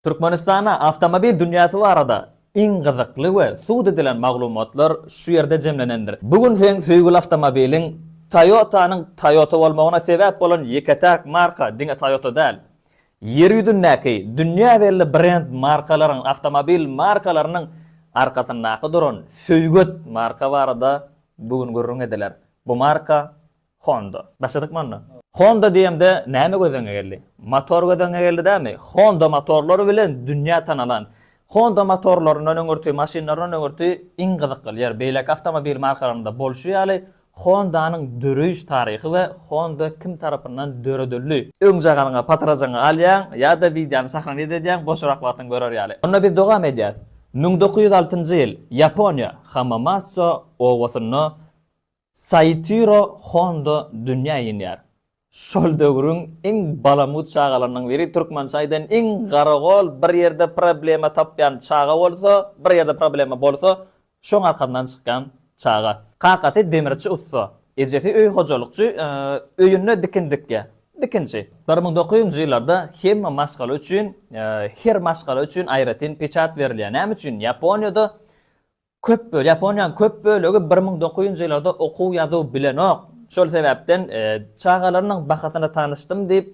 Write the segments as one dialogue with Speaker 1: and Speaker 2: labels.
Speaker 1: Türkmenistana awtomobil dünýäsi barada iň gyzykly we sud edilen maglumatlar şu ýerde jemlenendir. Bu gün seň söýgüli awtomobiliň Toyota-nyň Toyota bolmagyna sebäp bolan ýeke-täk marka diňe Toyota däl. Ýer ýüzündäki dünýä belli brend markalaryň awtomobil markalarynyň arkasyndaky duran söýget marka barada bu gün gürrüň ediler. Bu marka Honda. Başladykmy onda? Honda diýemde näme göz öňe geldi? Motor göz öňe geldi dämi? Honda motorlary bilen dünýä tanalan. Honda motorlaryndan öňürti, maşynlaryndan öňürti iň gyzykly ýer, beýleki awtomobil markalarynda bolşy ýaly, Honda-nyň döreýiş taryhy we Honda kim tarapyndan döredildi. Öňjagalyňy, patyrajyňy alýaň ýa-da wideony sahranit edýäň, boşrak wagtyň görer ýaly. Onda biz dowam edýäs. Müň dokuz ýüz altynjy ýyl, Ýaponiýa, Hamamatsu obasynda Saitiro Hondo dünýä inýär. Şol döwrüň iň balamut çagalarynyň biri türkmençe aýdan iň garagol bir ýerde problema tapýan çaga bolsa bir ýerde problema bolsa şoň arkasyndan çykýan çaga. Kakasy demirçi ussa. Ejesi öý hojalykçy öýünde dikin dikýär. Dikinçi. Bir müň dokuz ýüzünji ýyllarda hemme maşgala üçin her maşgala üçin aýratyn peçat berilýär. Näme üçin? Ýaponiýada Köp bölegi, Ýaponiýanyň köp bölegi bir müň dokuz ýüz njy ýyllarda okuw-ýazuw bilenok. Şol sebäpden çagalarynyň bahasyna tanyşdym diýip,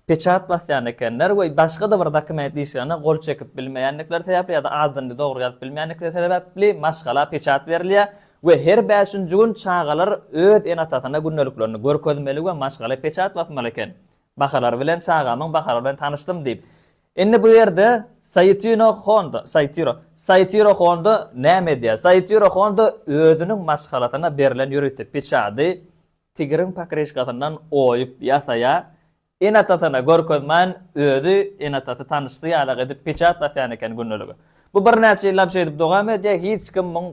Speaker 1: peçat basýan ekenler we başga-da bir dokument işlerine gol çekip bilmeýändikleri sebäpli ýa-da adyny dogry ýazyp bilmeýändikleri sebäpli maşgala peçat berilýär we her bäşinji gün çagalar öz ene-atasyna gündeliklerini görkezmeli we maşgala peçat basmaly eken. Bahalary bilen, Çagamyň bahalary bilen tanyşdym diýip, Indi bu ýerde Saýtino Honda, Saýtiro, Saýtiro Honda näme edýär? Saýtiro Honda özüniň maşgalasyna berlen ýörite piçady tigriň pokryşkasyndan oýup ýasaýar. Ene-atasyna görkezmän, özi ene-atasy tanyşdy ýalak edip piçat basýan eken gündelige. Bu birnäçe ýyllap şeýdip dowam edýär, hiç kim muň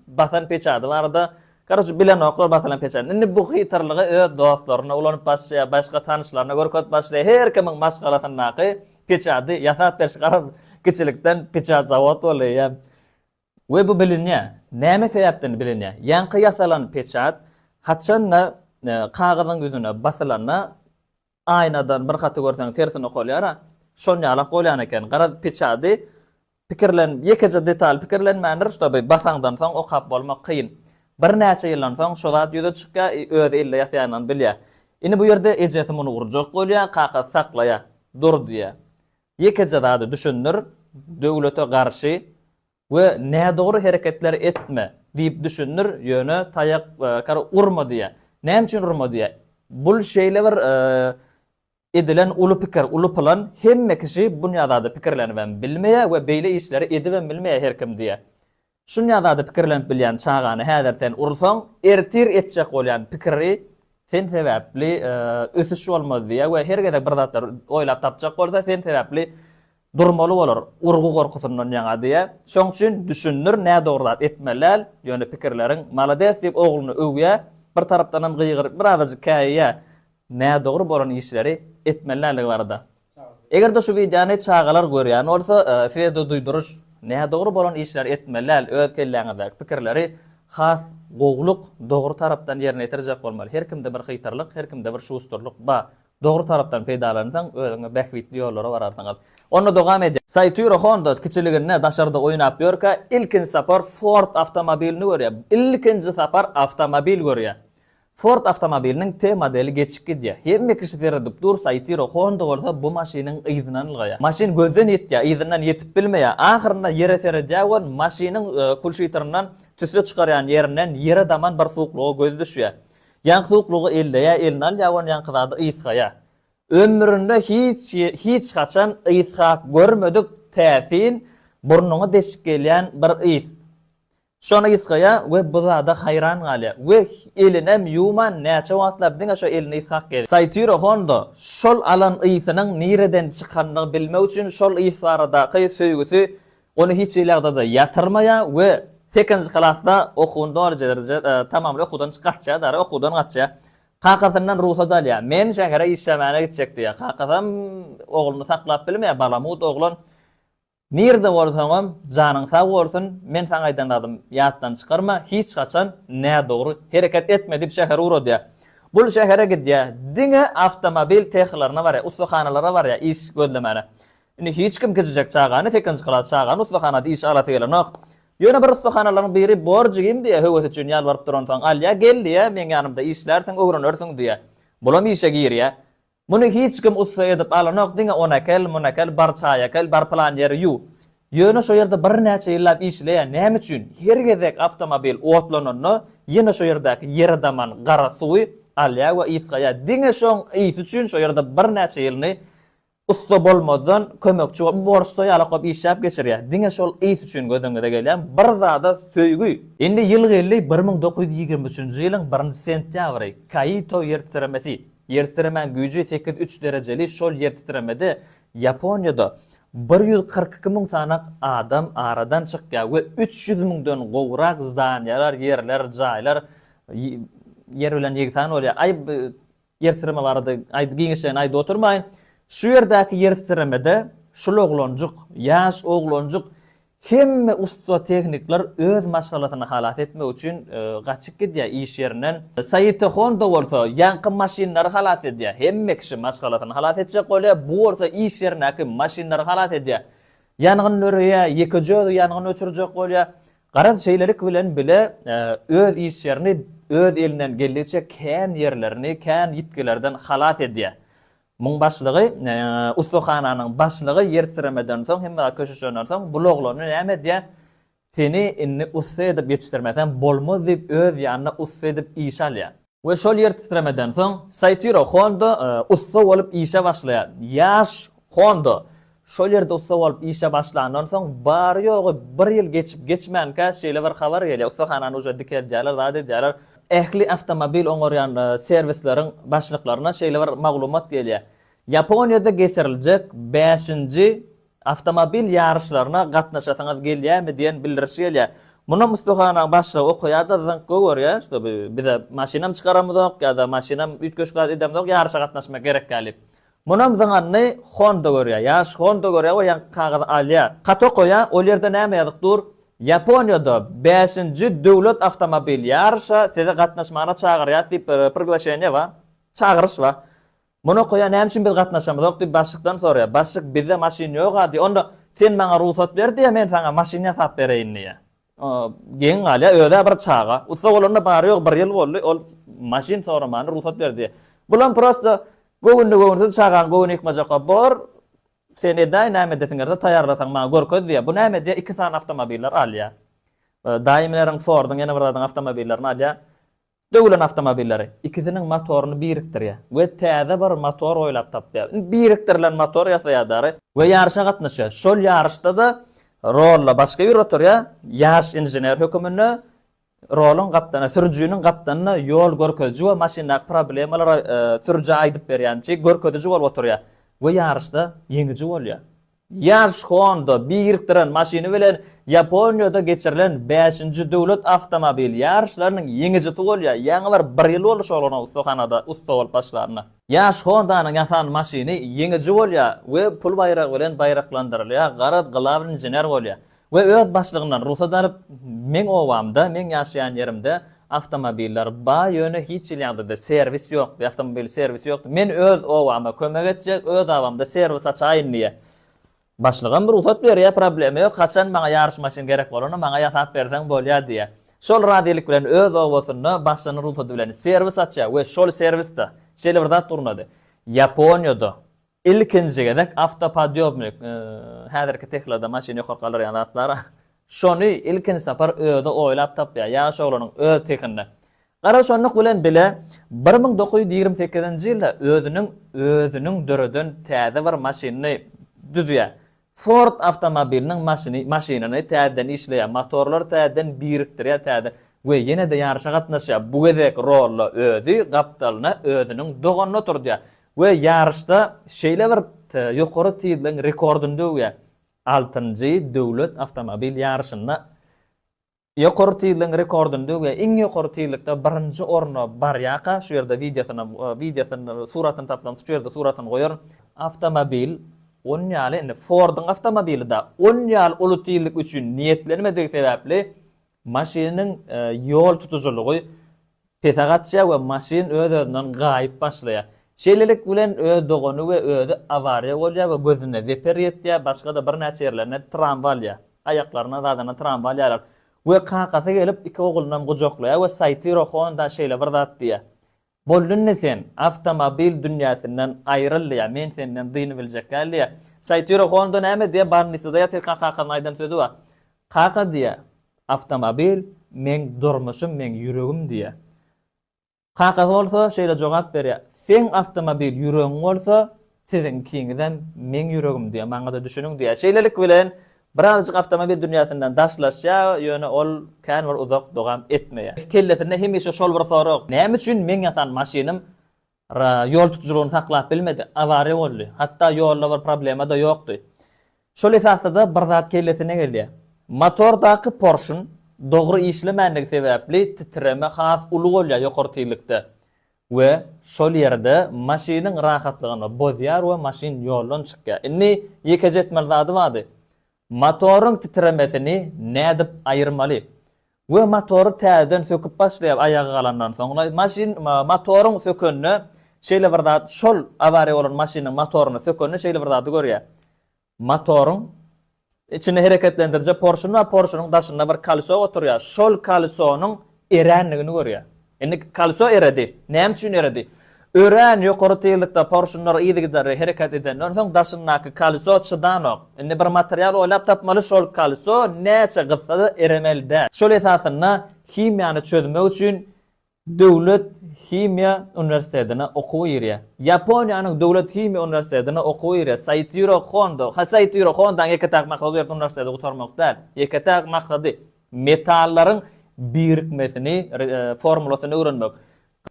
Speaker 1: basan piçady barada Koroce bilenoklar basylan peçäni. Indi bu hytyrlygy öz dostlaryna ulanyp başlaýar, başga tanyşlaryna görkezip başlaýar. Her kimiň maşgalasyndaky peçady ýasap beriş garaz kiçilikden peçat zawod bolýa. We bu bilinýä. Näme sebäpden bilinýä? Ýaňky ýasalan peçat haçanda kagyzyň ýüzüne basylanda Aýnadan bir haty görseň tersine okalýar-a. Şon ýalak bolýan eken. Garaz, piçady pikirlenip, ýekeje detal pikirlenmändir, ştaby basaňdan soň okap bolmak kyn. Birnäçe ýyldan soň şo zat ýüze çykýar, i özi ille ýasaýandan bilýär. Indi bu ýerde ejesi muny urjak bolýar, kakasy saklaýar. Dur diýýär. Ýekeje zady düşündir, döwlete garşy We nädogry hereketler etme diýip düşündir, ýöne taýak kar urma diýýär. Näme üçin urma diýýär? Bul şeýle bir edilen uly pikir, uly plan, hemme kişi bunýa zada pikirlenibem bilmeýär we beýle işleri edibem bilmeýär her kim diýýär. Şunýa zada pikirlenip bilýän çagany häzir sen ursaň, ertir etjek bolýan pikiri sen sebäpli ösüş bolmaz diýýär we her gezek bir zatlar oýlap tapjak bolsa sen sebäpli Durmaly bolar, urgy gorkusyndan ýaňa diýýä. Şoň üçin düşündir nädogry zat etmeli däl, ýöne pikirleriň malades diýip ogluny öwýä, bir tarapdanam gygyryp bir azajyk käýýä nädogry bolan işleri etmeli däldigi barada. Egerde şu wideony çagalar görýän bolsa sizede duýduryş nädogry bolan işleri etmeli däl öz kelläňizdäki pikirleri has gowluk dogry tarapdan ýerine ýetirjek bolmaly her kimde bir hytrlyk her kimde bir şusturlyk ba Dogry tarapdan peýdalansaň, özüňe bähbitli ýollara bararsyň al. Onda dogam edýän. Saýtýro Honda kiçiliginde daşarda oýnap ýörkä ilkinji sapar Ford awtomobilini görýär. Ilkinji sapar awtomobil görýär. Ford awtomobiliniň T modeli geçip gidýär. Hemme kişi seredip dur, Saýtýro Honda bolsa bu maşynyň yzynan ylgaýar. Maşyn gözden ýitýär, yzyndan ýetip bilmeýär. Ahyrynda ýere seredýär we maşynyň kulşitryndan tüsse çykarýan ýerinden ýere daman bir suwuklyga gözi düşýär. Ýaňky suwuklygy elleýär, eline alýar we ony ýaňky zady ysgaýar. Ömründe hiç hiç haçan ysgap görmedik täsin burnuňa deşik gelýän bir ys. Şony ysgaýar we bu zada haýran galýar we elinem ýuwman näçe wagtlap diňe şo elini ysgap gezýär. Saýtyro Hondo şol alan ysynyň nireden çykandygyny bilmek üçin şol ys baradaky söýgüsi Ony hiç hili ýagdaýda ýatyrmaýar we sekizinji klasda okuwyny doljurjy tamamly okuwdan çykartýar dara okuwdan gaçýar. Kakasyndan rugsat alýar. Men şähere işlemäne gitjek diýýär. Kakasam ogluny saklap bilmeýär. Balamut oglan nirde bolsaňam janyň sag bolsun, men saňa aýdan zadym ýatdan çykarma, hiç haçan nädogry hereket etme diýip şähere ugradýar. Bul şähere gidýär. Diňe awtomobil tehalaryna barýar, ussahanalara barýar iş gözlemäne. Indi hiç kim kiçijek çagany, sekizinji klas çagany ussahanada işe alasy gelenok. Ýöne bir ussahanalaryň biri borjy gim diýýär, höwesi üçin ýalbaryp duransoň, alýar, gel diýýär, meň ýanymda işlärsiň, öwrenersiň diýýär. Bulam işe girýär. Muny hiç kim ussa edip alanok, diňe ony äkel, muny äkel, bar çaý äkel, bar pylan ýeri ýuw. Ýöne şo ýerde birnäçe ýyllap işleýär. Näme üçin? Her gezek awtomobil otlananda, ýene şo ýerdäki ýere daman gara suwy alýar we ysgaýar. Diňe şoň ysy üçin şo ýerde birnäçe ýylyny Ussa bolmazdan kömekçi bolup borçda ýala kop işläp geçirýär. Diňe şol ys üçin gözüňize gelýän bir zada söýgi. Indi ýyl geldi bir müň dokuz ýüz ýigrimi üçünji ýylyň birinji sentýabry, Kaito ýertitremesi. Ýertitremäň güýji sekiz üç derejeli şol ýertitremede Ýaponiýada bir ýüz kyrk iki müň sanaak adam aradan çykýar we üç ýüz müňden gowrak zdaniýalar, ýerler, jaýlar ýer bilen ýegsan bolýar. Aý, Ýer titreme barada giňişleýin aýdyp oturmaýyn. Şu ýerdäki ýer titremede şul oglanjyk, ýaş oglanjyk hemme ussa tehnikler öz maşgalasyny halas etmek üçin gaçyp gidýär iş ýerinden. Saýyta Honda bolsa ýaňky maşynlary halas edýär. Hemme kişi maşgalasyny halas etjek bolýar, bu bolsa iş ýerindäki maşynlary halas edýär. Ýangyn döreýär, ýeke-jüzi ýangyn öçürjek bolýar. Garaz, şeýlelik bilen bile öz işlerini öz elinden geldigiçe kän ýerlerini kän ýitgilerden halas edýär. Muň başlygy, ussahananyň başlygy ýertitremeden soň, hemme zat köşeşenden soň, bul oglany näme edýär, Seni indi ussa edip ýetişdirmesem bolmaz diýip öz ýanyna ussa edip işe alýar. We şol ýer titremeden soň Saitiro Honda ussa bolup işe başlaýar. Ýaş Honda şol ýerde ussa bolup işe başlandan soň bary-ýogy bir ýyl geçip geçmänkä şeýle bir habar gelýär, ussahanany uje dikeldýärler, zat edýärler. Ähli awtomobil oňarýan serwisleriň başlyklaryna şeýle bir maglumat gelýär, Ýaponiýada geçiriljek bäşinji Awtomobil ýaryşlaryna gatnaşasyňyz gelýärmi diýen bildirişi gelýär. Munam ussahanaň başlygy okaýar-da zyňk goýberýär, şo bi bize maşynam çykaramyzok ýa-da maşynam üýtgeşikzat edemizok ýaryşa gatnaşmak gerek däl diýip. Munam zyňanyny Honda görýär. Ýaş Honda görýär we ýaňky kagyzy alýar. Hat okaýar, ol ýerde näme ýazyk dur, Ýaponiýada bäşinji döwlet awtomobil ýaryşa sizi gatnaşmagyna çagyrýas diýip bir priglaşeniýe bar, çagyryş bar. Muny okaýar, Näme üçin biz gatnaşamyzok? diýip, başlykdan soraýar. Başlyk, Bizde maşyn ýog-a diýýär. Onda sen maňa rugsat ber diýýär, men saňa maşyn ýasap bereýin diýýär. Geň galýar, özi-ä bir çaga. Ussa bolanyna bary-ýogy bir ýyl boldy, ol maşyn soramany rugsat ber diýýär. Bulam prosta göwünli-göwünsiz çagaň göwni ýykmajakka bor, sen edäý, näme edesiň gelse, taýýarlasaň maňa görkez diýýär. Bu näme edýär, iki sany awtomobiller alýar. Daýimleriň, Forduň, ýene bir zadyň awtomobilerini alýar. Döwlen awtomobilleri ikisiniň motoryny birikdirýär we täze bir motor oýlap tapýar. Indi birikdirilen motor ýasaýadar. We ýaryşa gatnaşýar. Şol ýaryşda-da rolla başga biri oturýar, ýaş inžener höküminde roluň gapdana, sürüjiniň gapdanyna ýol görkeziji we maşyndaky problemalary sürüjä aýdyp berýänçi görkeziji bolup oturýar we ýaryşda ýeňiji bolýar. Ýaş Honda birikdiren maşyny bilen Ýaponiýada geçirilen bäşinji döwlet awtomobil ýaryşlarynyň ýeňijisi bolýar, ýaňy bir bir ýyl boldy şol onuň ussahanada ussa bolup başlanyna. Ýaş Honda-nyň ýasan maşyny ýeňiji bolýar we pul baýragy bilen baýraklandyrylýar, garaz, glawnyý inžener bolýar. we öz başlygyndan rugsat alyp, meň obamda, meň ýaşaýan ýerimde awtomobillar bar, ýöne hiç hili ýagdaýda serwis ýokdy, awtomobil serwisi ýokdy, men öz obama kömek etjek, öz abamda serwis açaýyn diýýär. Başlygym rugsat berýär, problema ýok, haçan maňa ýaryş maşyn gerek bolanda maňa ýasap berseň bolýar diýýär. Şol razylyk bilen öz obasynda başlygynyň rugsady bilen serwis açýar we şol serwisde şeýle bir zat gurnady, Ýaponiýada Ilkinji gezek awtopodýobnik, häzirki Teslada maşyny ýokary galdyrýan zatlar, şony ilkinji sapar özi oýlap tapýar, ýaş oglanyň öz sehinde. Gara şonluk bilen bile, bir müň dokuz ýüz ýigrimi sekizinji ýylda özüniň özüniň döreden täze bir maşynyny düzýär. Ford awtomobiliniň maşyny maşynyny täzeden işleýär, motorlary täzeden birikdirýär, täzeden we ýene-de ýaryşa gatnaşýar. Bu gezek Rolla özi gapdalyna özüniň doganyny oturdýar we ýaryşda şeýle bir ýokary tizligiň rekordyny döwýär, altynjy döwlet awtomobil ýaryşynda Ýokary tizligiň rekordyny döwýär. Iň ýokary tizlikde birinji orna barýarka, şu ýerde wideosyny wideosyny, suratyny tapsam, şu ýerde suratyny goýaryn. Awtomobil on ýaly indi Ford-yň awtomobilida on ýaly uly tizlik üçin niýetlenmedigi sebäpli maşynyň ýol tutujylygy Pese gaçýar we maşyn öz-özünden gaýyp başlaýar. Şeýlelik bilen öz dogany we özi awariýa bolýar we gözüne zeper ýetýär, başga-da birnäçe ýerlerine tramwa alýar. Aýaklaryna, zadana tramwa alýarlar. We kakasy gelip, iki oglunam gujaklaýar we Saýtyro Honda şeýle bir zat diýýär, Boldy indi sen, awtomobil dünýäsinden aýryl diýýär, men senden dyny biljek däl diýýär. Saýtyro Honda näme diýýär, Barnissada ýatyrka kakasynyň aýdan sözi bar. Kaka diýýär, Awtomobil, meň durmuşym, meň ýüregim diýýär. Kakasy bolsa şeýle jogap berýär, Seň awtomobil ýüregiň bolsa, siziňkiňizem meň ýüregim diýýär, maňa-da düşüniň diýýär. Şeýlelik bilen, birazajyk awtomobil dünýäsinden daşlaşýar, ýöne ol kän bir uzak dowam etmeýär. Kellesinde hemişe şol bir sorag, Näme üçin meň ýasan maşynym Ra ýol tutujylygyny saklap bilmedi, awariýa boldy. Hatda ýolda bir problema-da ýokdy. Şol esasda-da bir zat kellesine gelýär. Motordaky porşun dogry işlemändigi sebäpli titreme has uly bolýar ýokary tizlikde we şol ýerde maşynyň rahatlygyny bozýar we maşyn ýoldan çykýar. Indi ýekeje etmeli zady bardy. Motoryň titremesini nädip aýyrmaly? We motory täzeden söküp başlaýar aýaga galandan soň. Maşyn motoryň sökende şeýle bir zat şol awariýa bolan maşynyň motoryny sökende şeýle bir zady görýär. Motoryň içinde hereketlendirije porşun bar porşunyň daşynda bir kaliso oturýar şol kalisonyň eränligini görýär. Indi kolso eredi. Näme üçin eredi? Örän ýokary tizlikde porşunlar yzygiderli hereket edenden soň daşyndaky kolso çydanok. Indi bir material oýlap tapmaly, şol kolso näçe gyzsa-da eremeli däl. Şol esasynda himiýany çözmek üçin Döwlet himiýa uniwersitetine okuwa girýär. Ýaponiýanyň Döwlet himiýa uniwersitetine okuwa girýär. Saitiro Hondo, ha Saitiro Hondaň ýeke-täk maksady bu ýerde uniwersiteti gutarmak däl. Ýeke-täk maksady, Metallaryň birikmesini, formulasyny öwrenmek.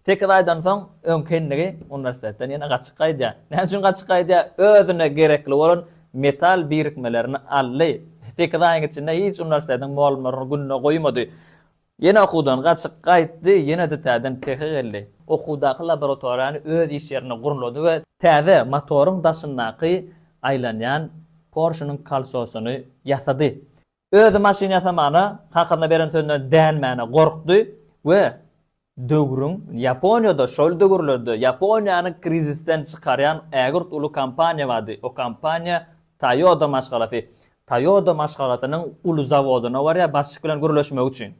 Speaker 1: Sekiz aýdan soň öňki endigi uniwersitetden ýene gaçyp gaýdýar. Näme üçin gaçyp gaýdýar? Özüne gerekli bolan metal birikmelerini aldy. Sekiz aýyň içinde hiç uniwersitetiň molumlaryny gününe goýmady. Ýene okuwdan gaçyp gaýtdy, ýene dtäden tehe geldi. Okuwdaky laboratoriýany öz iş ýerine gurnlady we täze motoryň daşyndaky aýlanýan Porşynyň kolsosyny ýasady. Özi maşyn ýasamana hakyna beren sözüne dänmäne gorkdy we döwrüň, Ýaponiýada şol döwürlerde Ýaponiýany krizisden çykarýan ägirt uly kompaniýa bardy. O kompaniýa Toýoda maşgalasy. Toýoda maşgalasynyň uly zawodyna barýar başlyk bilen gürleşmek üçin.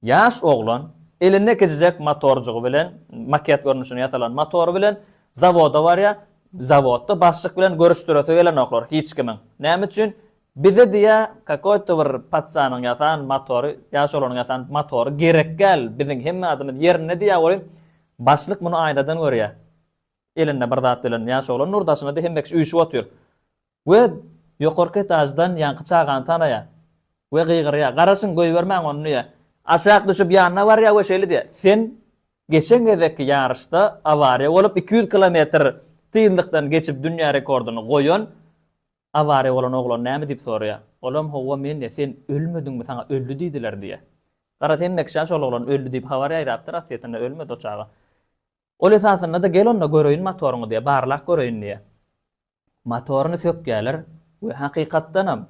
Speaker 1: Ýaş oglan elinde kiçijek motorjygy bilen, maket görnüşinde ýasalan motory bilen zawoda barýar. Zawodda başlyk bilen görüşdiresi gelenoklar hiç kimiň. Näme üçin? Bize diýýär, kakoýto bir patsanyň ýasan motory, ýaş oglanyň ýasan motory gerekgäl, biziň hemme zadymyz ýerinde diýýär welin, başlyk muny aýnadan görýär. Elinde bir zat bilen ýaş oglan nur daşyna hemme kişi üýşüp otyr. We ýokarky etaždan ýaňky çagany tanaýar we gygyrýar, Garaşyň, goýbermäň ony! diýýär. Aşak düşüp ýanyna barýar we şeýle diýýär, Sen geçen gezekki ýaryşda awariýa bolup iki ýüz kilometr tyzlykdan geçip dünýä rekordyny goýan awariýa bolan oglan näme? diýip soraýar. Olam, Howwa men diýýär, Sen ölmediňmi, saňa öldi diýdiler diýýär. Garaz, hemme kişä şol oglan öldi diýip habar ýaýrapdyr, aslyýetinde ölmedi o çaga. Ol esasynda-da gel onda göreýin motoryňy diýýär, barlak göreýin diýýär. Motoryny sökýärler we hakykatdanam,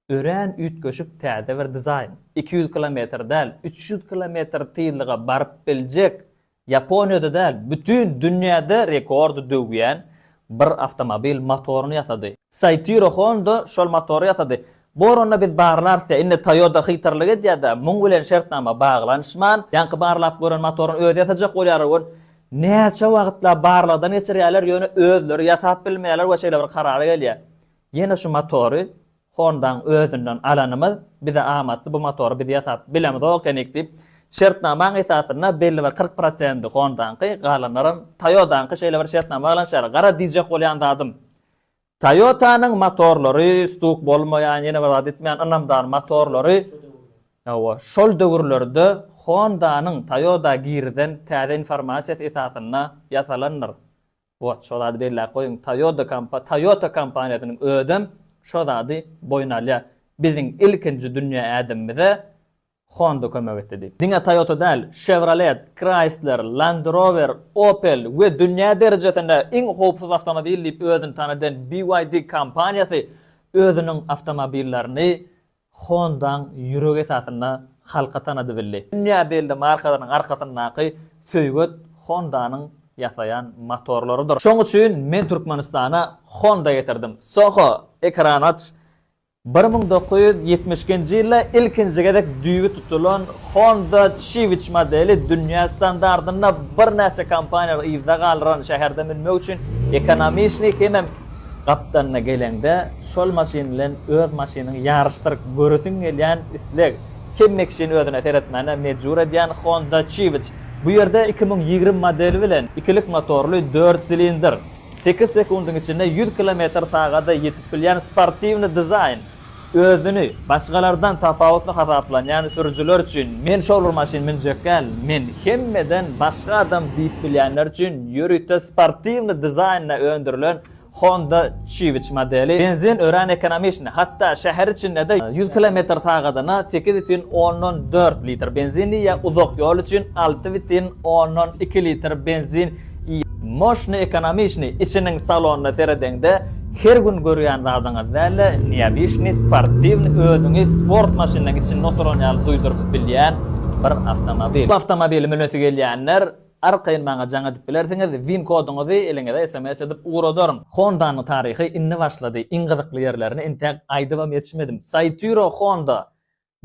Speaker 1: örän üýtgeşik täze bir dizaýn, iki ýüz kilometr däl, üç ýüz kilometr tyzlyga baryp biljek, Ýaponiýada däl, bütin dünýäde rekordy döwýän bir awtomobil motoryny ýasady. Saitiro Honda şol motory ýasady. Bor onda biz barlarsýa indi Toyota hytyrlyk edýädä muň bilen şertnama baglanyşman ýaňky barlap gören motorun özi ýasajak bolýar ol näçe wagytlap barlagdan geçirýäler ýöne özleri ýasap bilmeýäler we şeýle bir karara gelýä ýene şu motory Hondaň özünden alanymyz bize amatly bu motory biz ýasap bilemizok ekenik diýip şertnamaň esasynda belli bir kyrk prosendi Hondaňky galanlaram Toyodaňky şeýle bir şertnama baglanyşýar gara diýjek bolýan zadym Toyota-nyň motorlary stuk bolmaýan, ýene bir zat etmeýän ynamdar motorlary, hawa, şol döwürlerde Honda-nyň Toyota girizen täze informasiýasy esasynda ýasalandyr. Wot, şo zady belläp goýuň, Toyota kompa, Toyota kompaniýasynyň özem şo zady boýun alýar. Biziň ilkinji dünýä ädimimize Honda kömek etdi diýip, diňe Toyota däl, Chevrolet, Chrysler, Land Rover, Opel we dünýä derejesinde iň howpsuz awtomobil diýip özüni tanadan BYD kompaniýasy özüniň awtomobillerini Honda-nyň ýüregi esasynda halka tanady bildi. Dünýä belli markalarynyň arkasyndaky söýget Honda-nyň ýasaýan motorlarydyr. Şoň üçin men Türkmenistana Honda getirdim. Soho, ekran aç, Bir müň dokuz ýüz ýetmiş ikinji ýylda ilkinji gezek düýbi tutulan Honda Civic modeli dünýä standartynda birnäçe kompaniýalary yzda galdyran şäherde münmek üçin ekonomiçni hemem Gapdalyna geleňde şol maşyn bilen öz maşynyňy ýaryşdyryp göresiň gelýän isleg hemmekisin özüne seretmäne mejbur edýän Honda Civic bu ýerde iki müň ýigrimi modeli bilen ikilik motorly dört silindr Sekiz sekundyň içinde ýüz kilometr sagada ýetip bilýän sportiwny dizaýn, özüni başgalardan tapawutly hasaplanýan sürüjiler üçin, men şol bir maşyn münjekkäl, men hemmeden başga adam diýip bilýänler üçin ýörite sportiwny dizaýnda öndürilen Honda Civic modeli benzin örän ekonomiçny, hatda şäher içinde-de ýüz kilometr sagadyna sekiz butyn ondan dört litr benzin diýýär, uzak ýol üçin alty butyn ondan iki litr benzin Moşny ekonomiçni içiniň salonyna seredeňde her gün görýän zadyňyz däl-de neobiçni sportiwny özüňi sport maşynynyň içinde oturan ýaly duýduryp bilýän bir awtomobil. Bu awtomobili münesi gelýänler arkaýyn maňa jaň edip bilersiňiz, win koduňyzy eliňize sms edip ugradaryn. Hondanyň taryhy indi başlady, iň gyzykly ýerlerini entäk aýdybam ýetişmedim. Saitiro Honda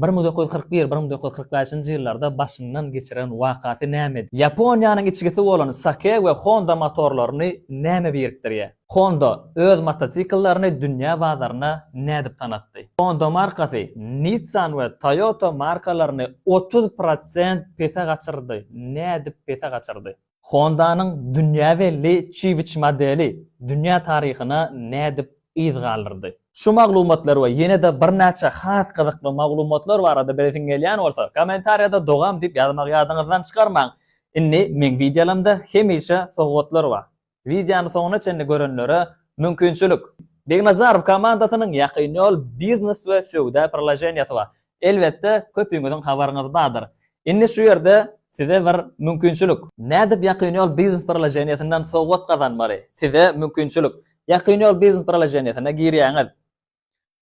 Speaker 1: Bir müň dokuz ýüz kyrk bir, bir müň dokuz ýüz kyrk bäşinji ýyllarda başyndan geçiren wakasy nämedi? Ýaponiýanyň içgisi bolan Sake we Honda motorlaryny näme birikdirýär? Honda öz motosikllerini dünýä bazaryna nädip tanatdy? Honda markasy Nissan we Toyota markalaryny otuz prosent pese gaçyrdy. Nädip pese gaçyrdy? Honda-nyň dünýä belli Civic modeli dünýä taryhyna nädip yz galdyrdy? Şu maglumatlar we ýene-de birnäçe has gyzykly maglumatlar barada bilesiň gelýän bolsa, kommentariýada dogam diýip ýazmagy ýadyňyzdan çykarmaň. Indi meň wideolaymda hemişe sowgatlar bar. Wideony soňuna çenli görenlere mümkinçilik. Begnazarow komandasynyň Ýakyn ýol biznes we söwda priloženiýasy bar. Elbetde, köpüňiziň habaryňyz bardyr. Indi şu ýerde size bir mümkinçilik. Nädip Ýakyn ýol biznes proloženiýesinden sowgat gazanmaly? Size mümkinçilik. Ýakyn ýol biznes proloženiýesine girýäňiz.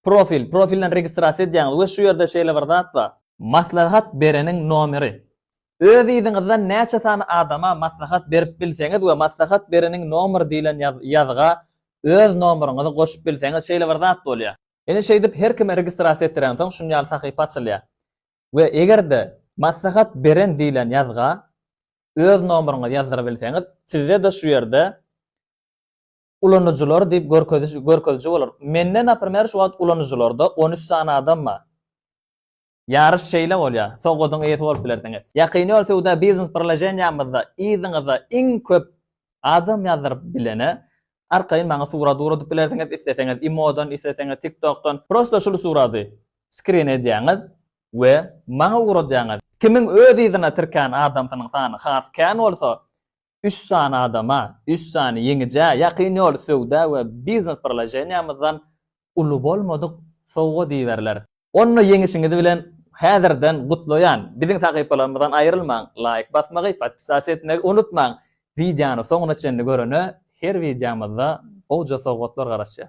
Speaker 1: Profil, profilden registrasiýa edýäňiz we şu ýerde şeýle bir zat bar. Maslahat bereniň nomeri. Öz yzyňyzdan näçe sany adama maslahat berip bilseňiz we maslahat bereniň nomeri diýlen ýazga öz nomeryňyzy goşup bilseňiz şeýle bir zat bolýar. Ine şeýdip her kime registrasiýa etdirensoň şun ýaly sahypa açylýar we eger-de maslahat beren diýlen ýazga öz nomeryňyzy ýazdyrybilseňiz sizde-de şu ýerde ulanyjylar diýip görkeziji bolar. Mende naprimer şu wagt ulanyjylarda on üç sany adam bar. Ýaryş şeýle bolýar, sowgadyň eýesi bolup bilersiňiz. Ýakyn ýol söwda biznes birleşenýämizde yzyňyza iň köp adam ýazdyryp bilene arkaýyn maňa surat ugradyp bilersiňiz, isleseňiz imodan, isleseňiz tiktokdan. Prosto şul surady skrin edýäňiz we maňa ugradýaňyz. Kimiň öz yzyna tirkän adamsynyň sany has kän bolsa, üç sany adama, üç sany ýeňijä ýakyn ýoly söwda we biznes birleşeniýamyzdan uly bolmadyk sowgat iberiler. Onda ýeňişiňiz bilen häzirden gutlaýan! Biziň sahypalarymyzdan aýrylmaň, laýk basmagy, podpisas etmegi unutmaň! Wideony soňuna çenli görene her wideomyzda gowja sowgatlar garaşýar.